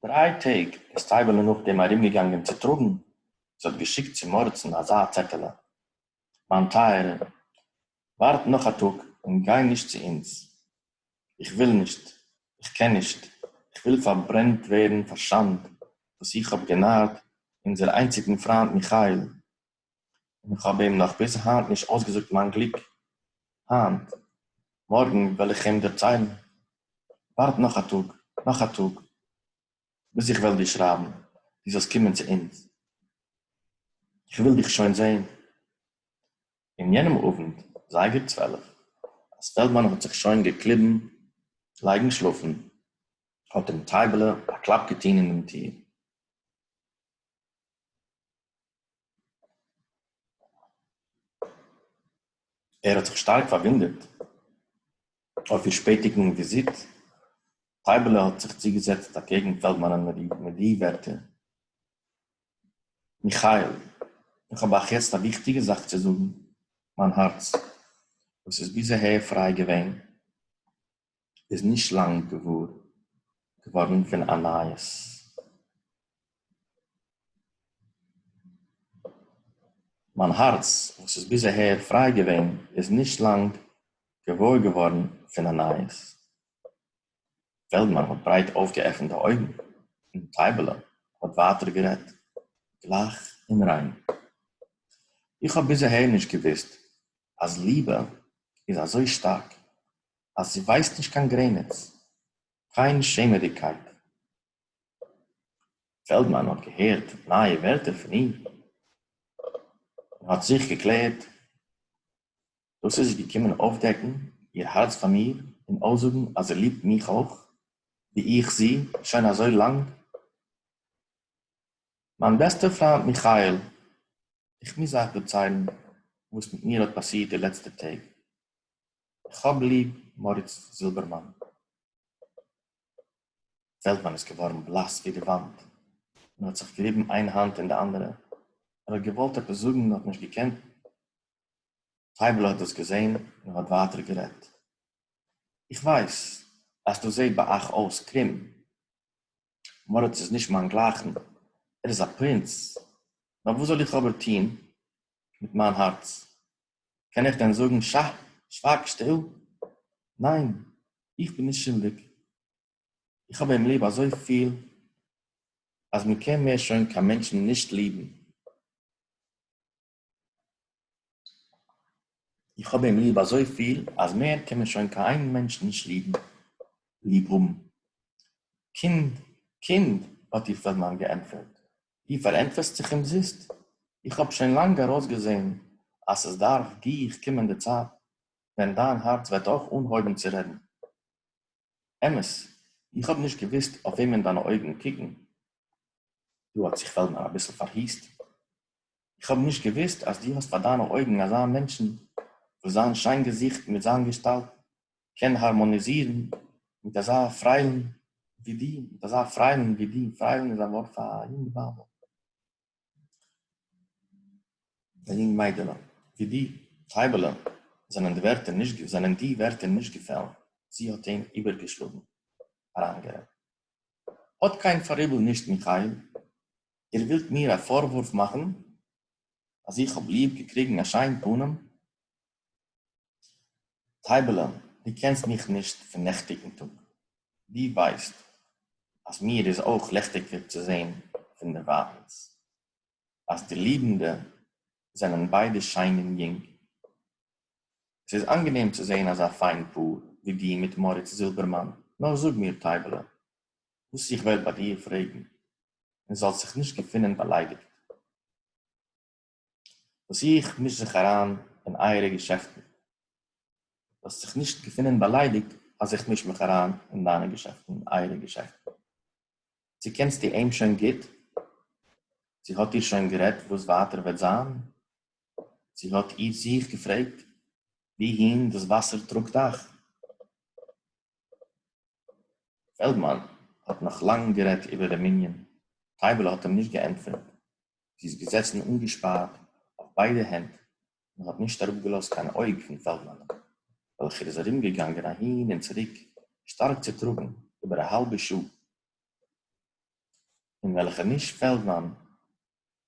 דריי טעג איז טייבעלע נאכדעם ארומגעגאנגען צו טראגן, זי האט געשיקט צום הארצן אזא צעטעלע, מיין טייערע, ווארט נאך א טאג און גיי נישט צו אונז, איך וויל נישט, איך קען נישט, איך וויל פארברענט ווערן פאר שאנד וואס איך האב גענארט אונזער איינציגן פריינד מיכאל, און איך האב אים נאך ביז היינט נישט אויסגעזאגט מיין גליק היינט, מארגן וועל איך אים דערציילן, ווארט נאך א טאג, נאך א טאג, ביז איך וועל דיר שרייבן, דו זאלסט קומען צו אונז, איך וויל דיך שוין זען. אין יענעם אוונט, זייגער צוועלף, אז פעלדמאן האט זיך שוין געקליבן לייגן שלאפן, האט אים טייבעלע א קלאפ געטון אין דעם טיר. ער האָט זיך שטאַרק פֿאַרװוּנדערט אױף איר שפּעטיקן װיזיט. טײַבעלע האָט זיך צוגעזעצט אַקעגן פֿעלדמאַנען מיט די װערטער, מיכאַיִל, איך האָב אײַך יעצט אַ װיכטיקע זאַך צו זאָגן. מײַן האַרץ, װאָס איז ביז אַהער פֿרײַ געװען, איז נישט לאנג געוואר געווארן פון א נייעס מיין הארץ וואס איז ביז אהער פריי געווען איז נישט לאנג געוואר געווארן פון א נייעס פעלדמאן האט ברייט אויפגעעפנט די אויגן און טייבעלע האט ווייטער גערעדט גלייך און ריין איך האב ביז אהער נישט געוואוסט אז ליבע איז אזוי שטארק אז זי ווייסט נישט קיין גרעניץ, קיין שעמעדיגקייט. פעלדמאן האט געהערט נייע ווערטער פון איר, און האט זיך געקלערט, דאס איז זי געקומען אויפדעקן איר הארץ פאר מיר און אויסזאגן אז זי ליבט מיך אויך, ווי איך זי, שוין אזוי לאנג. מיין בעסטער פריינט מיכאל, איך מוז אייך דערציילן וואס מיט מיר האט פאסירט די לעצטע טעג. כ'האב ליב מאריץ זילבערמאן. פעלדמאן איז געווארן בלאס ווי די וואנט און האט זיך געריבן איין האנט אין די אנדערע. ער האט געוואלט עפעס זאגן און האט נישט געקענט. טייבל'ע האט דאס געזען און האט ווייטער גערעדט. איך ווייס אז דאס זעט ביי אייך אויס קרום. מאריץ איז נישט מיין גלייכן. ער איז א פרינץ. נאר וואס זאל איך אבער טון מיט מיין הארץ? קען איך דען זאגן שא, שווייג שטיל? ניין, איך בין נישט שולדיג, איך האב אים ליב אזויפיל אז מען קען מער שוין קיין מענטשן נישט ליבן, איך האב אים ליב אזויפיל אז מער קען מען שוין קיין איין מענטש נישט ליבן, ליב האבן. קינד, קינד, האט איר פעלדמאן געענטפערט, דו פארענטפערסט זיך אומזיסט, איך האב שוין לאנג ארויסגעזען אז עס דארף גיך קומען די צייט ווען דיין הארץ וועט אויך אנהויבן צו רעדן. אמת, איך האב נישט געוואוסט אויף וועמען דיינע אויגן קוקן, דא האט זיך פעלדמאן אביסל פארהוסט, איך האב נישט געוואוסט אז דו האסט פאר דיינע אויגן אזא מענטשן וואס זיין שיין געזיכט מיט זיין געשטאלט קען הארמאניזירן מיט אזא פריילן ווי דו, מיט אזא פריילן ווי דו, פריילן איז א ווארט פאר א יונג בייבל, א יונג מיידעלע, ווי דו, טייבעלע, זענען די ווערטער נישט, זענען די ווערטער נישט געפעלן, זי האט אים איבערגעשלאגן, אריינגערעדט. האט קיין פאראיבל נישט, מיכאיל, איר ווילט מיר א פארוואורף מאכן אז איך האב ליב געקריגן א שיין פנים, טײַבעלען, דו קענסט מיך נישט פֿון נעכטיקן טאָג. דו װײסט, אַז מיר איז אױך לעכטיקער צו זען פֿון דער װײַטנס, אַז די לידענדע זענען בײדע שײן און יונג. עס איז אַנגענעם צו זען אַזאַ פֿײַן פּאָר, װי דו מיט מאָריץ זילבערמאַן. נאָר זאָג מיר, טײַבעלע, װאָס איך װעל בײַ דיר פֿרעגן, און זאָלסט זיך נישט געפֿינען באַלײדיקט. וואס איך מיש זיך אריין אין אייערע געשעפטן, זאלסט זיך נישט געפינען באליידיגט אז איך מיש מיך אריין אין דיינע געשעפטן, אין אייערע געשעפטן. צו קענסטו אים שוין גוט? צו האט איר שוין גערעדט וואס ווייטער וועט זיין? צו האט איר זיך געפרעגט וואוהין דאס וואסער טראגט אייך? פעלדמאן האט נאך לאנג גערעדט איבער דעם ענין, טייבעלע האט אים נישט געענטפערט, זי איז געזעצן אנגעשפארט אויף ביידע הענט און האט נישט אראפגעלאזט קיין אויג פון פעלדמאנ'ן, וועלכער איז ארומגעגאנגען אהין און צוריק שטארק צוטראגן איבער א האלבע שעה, אין וועלכע נישט פעלדמאן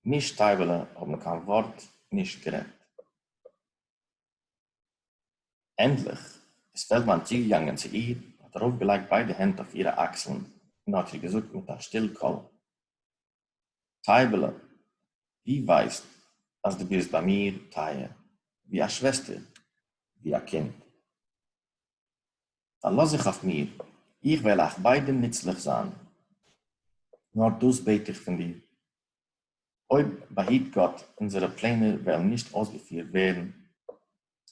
נישט טייבעלע האבן קיין ווארט נישט גערעדט. ענדליך איז פעלדמאן צוגעגאנגען צו איר, האט ארויפגעלייגט ביידע הענט אויף אירע אקסלן און האט איר געזאגט מיט א שטיל קול, טייבעלע, דו ווייסט אז דו ביסט ביי מיר טייער ווי א שוועסטער, ווי א קינד. פארלאז זיך אויף מיר, איך וועל אייך ביידע נוצליך זיין. נאר דאס בעט איך פון דיר, אויב באהיט גאט אונזערע פלענער וועלן נישט אויסגעפירט ווערן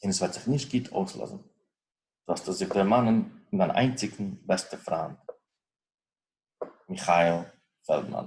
און עס וועט זיך נישט גוט אויסלאזן זאלסטו זיך דערמאנען פון דיין איינציגן בעסטע פריינד מיכאל פעלדמאן.